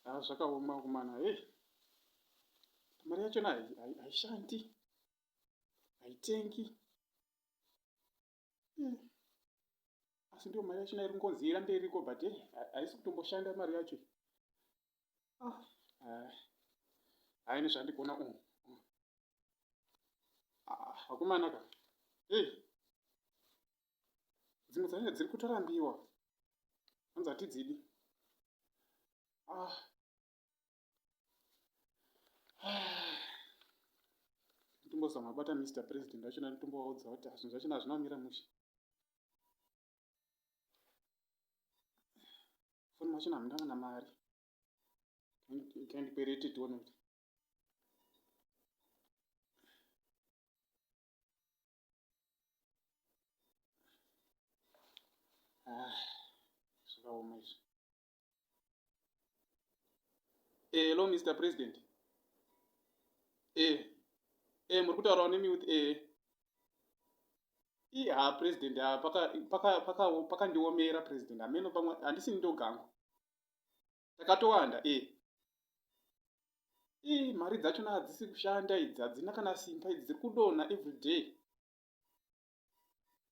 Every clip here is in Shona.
Ah, zvakaoma kumana hey. mari yachona haishandi haitengi hmm. asi ndiyo mari yachona iri ngonzi irambe iriko but eh, haisi kutomboshanda mari yacho ah, ah. haine zvandikuona umu hmm. akomana ka hey. dzimwe dzacho dziri kutorambiwa hanzi hatidzidi ah. ah. tombozama bata mr president vachona tombovaudza kuti zvinhu zvachona hazvina kumira mushe foni machona hamuna kana mari kandikwerete tione kuti Ah, zvakaoma izvi. Eh, hello Mr President. Eh, eh muri kutaurawo nemi with eh. Ii ha president ha paka paka paka pakandiomera president hameno pamwe handisi ndogangu. takatowanda e e mari dzachona hadzisi kushanda idzi hadzina kana simba idzi dziri kudonha everyday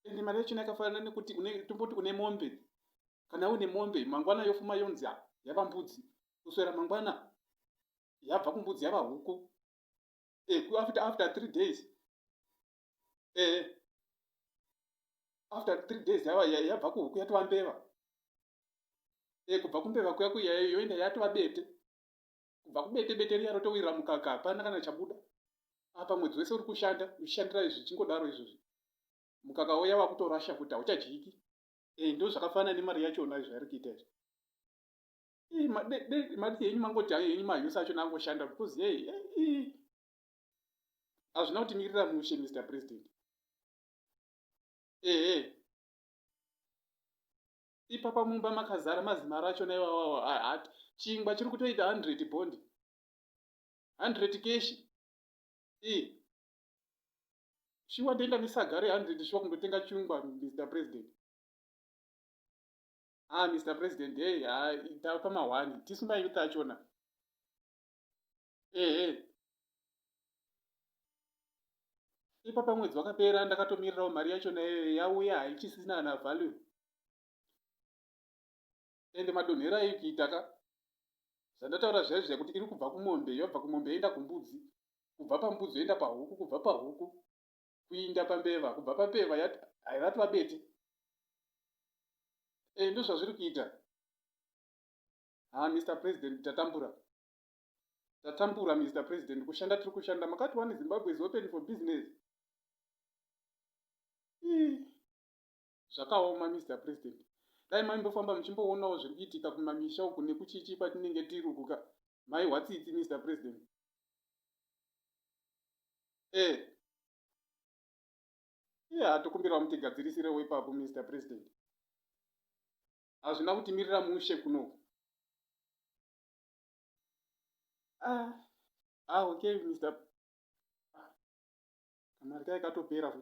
ende mari yachona yakafanana nekuti tomboti une mombe kana une mombe mangwana yofuma yonzi yava mbudzi kuswera mangwana yabva kumbudzi yava huku e after, after three days eh after three days yava yabva kuhuku yatova mbeva eh kubva kumbeva kuya kuya yoenda yatova bete kubva kubete bete riya rotowirira mukaka hapana kana chabuda apa mwedzi wese uri kushanda uchishandira izvi zvichingodaro izvozvi mukaka uya wakutorasha kuti hauchadyiki eh ndo zvakafanana nemari yachona izvo yari kuita izvi madi henyu mangoti ayo henyu mahusi achona angoshanda because yei hazvina kuti mirira mushe mr president ehe ipapa mumba makazara mazimaro achona iwawawa hat chingwa chiri kutoita 100 bondi 100 keshi i shuwa ndoenda nesaga re 100 shuwa kundotenga chingwa mr president ah mr president hey ha tapa mahwani tisu mayuth achona Ehe. Ipapa mwedzi wakapera ndakatomirirawo mari yacho nayo yauya haichisina kana value. Ende madonhero aikuita ka. Zvandataura zviya zviya kuti iri kubva kumombe yobva kumombe yoenda kumbudzi. Kubva pambudzi yoenda pahuku kubva pahuku kuinda pambeva kubva pambeva yati hairatwa bete. Eh ndozvazviri kuita. Ha Mr President tatambura. Tatambura Mister President kushanda tiri kushanda makati one Zimbabwe is open for business. Zvakaoma Mister President. Dai maimbofamba muchimboonawo zviri kuitika kumamisha uku nekuchichi kwatinenge tiri uku ka mai hwatsitsi Mister President. Eh. Iye hatokumbirawo mutigadzirisirewo ipapo Mister President. Hazvina kutimirira mushe kunoku. ah, ah okay Mr. Ah, kamari kaye katopera futi